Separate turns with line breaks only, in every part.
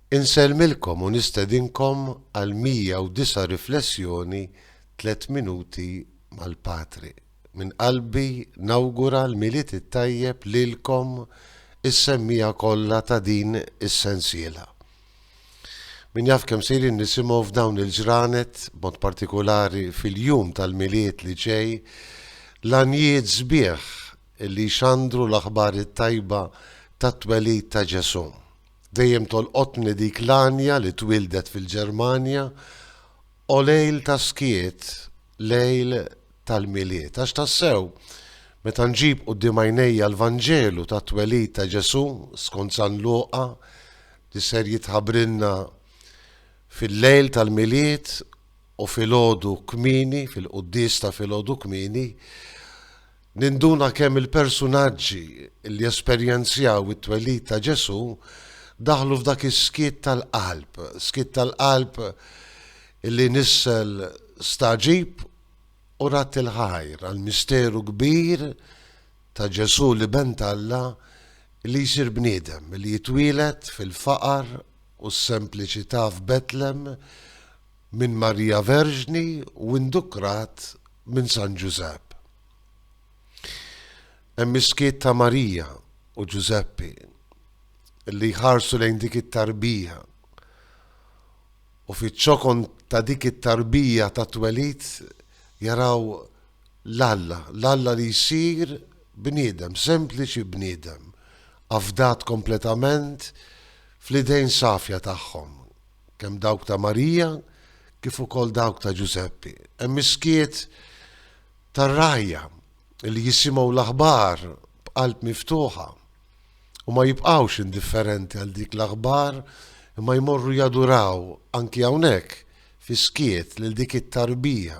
Insellmilkom u nistedinkom għal 109 Riflessjoni Tliet Minuti mal-Patri. Minn qalbi nawgura l-Milied it-Tajjeb lilkom is-semmiegħa kollha ta' din is-sensiela. Min jaf kemm sejrin nisimgħu f'dawn il-ġranet, b'mod partikulari fil-jum tal-Milied li ġej, l-għanjiet sbieħ li jxandru l-aħbar it-tajba tat-twelid ta' Ġesù. Dejjem tolqotni dik l-għanja li twieldet fil-Ġermanja, O lejl ta' skiet, lejl tal-Milied. Għax tassew, meta nġib quddiem għajnejja l-Vanġelu tat-twelid ta' Ġesù skont San Luqa li ser jitħabbrilna fil-lejl tal-Milied u filgħodu kmieni, fil-quddies ta' filgħodu kmieni, Ninduna kemm il-persunaġġi li esperjenzjaw it-twelid ta' Ġesù daħlu f'dak is-skiet tal-qalb, skiet tal-qalb li nissel stagħġib u radd il-ħajr għall-misteru kbir ta' Ġesù l-Iben t'Alla li jsir bniedem, li jitwieled fil-faqar u s-sempliċità f'Betlem minn Marija Verġni u indukrat minn San Ġużepp. Hemm is-skiet ta' Marija u Ġużeppi li jħarsu lejn dik it-tarbija u fiċ-ċokon ta' dik it-tarbija ta' twelid jaraw l-Alla, l-Alla li jsir bniedem, sempliċi bniedem, afdat kompletament fl-idejn safja tagħhom. kemm dawk ta' Marija kif ukoll dawk ta' Ġużeppi. Hemm miskiet tar-rajja li jisimgħu l-aħbar b'qalb miftuħa u ma jibqgħux indifferenti għal dik l-aħbar imma jmorru jaduraw anki hawnhekk fi skiet lil dik it-tarbija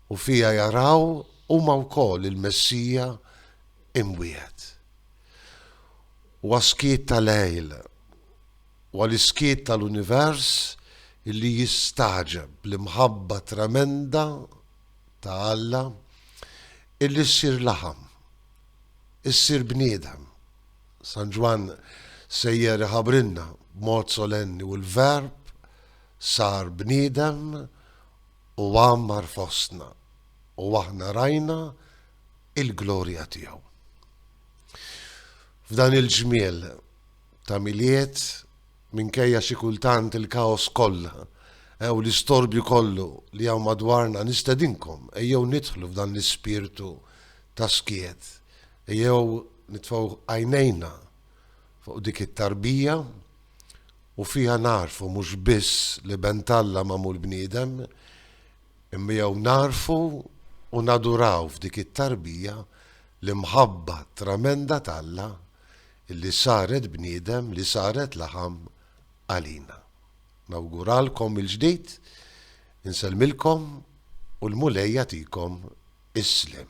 u fija jaraw huma wkoll il-Messija imwiegħed. Huwa skiet ta' lejl Huwa l-iskiet tal-univers li jistagħġeb l-imħabba tremenda ta' Alla illi ssir laħam, issir bniedem. San Ġwann sejjer iħabbrilna b'mod solenni u l-Verb sar bniedem u għammar fostna u aħna rajna il-glorja tiegħu. F'dan il-ġmiel ta' Milied, minkejja xi kultant il-kaos kollha u l-istorbju kollu li hawn madwarna, nistedinkom, ejjew nidħlu f'dan l-ispirtu ta' skiet. Ejjew nitfgħu għajnejna fuq dik it-tarbija u fiha nagħrfu mhux biss l-Iben t'Alla magħmul bniedem, imma jew nagħrfu u naduraw f'dik it-tarbija l-imħabba tremenda t'Alla li saret bniedem li saret laħam għalina. Nawguralkom mill-ġdid, insellmilkom u l-Mulej jagħtikom is-sliem.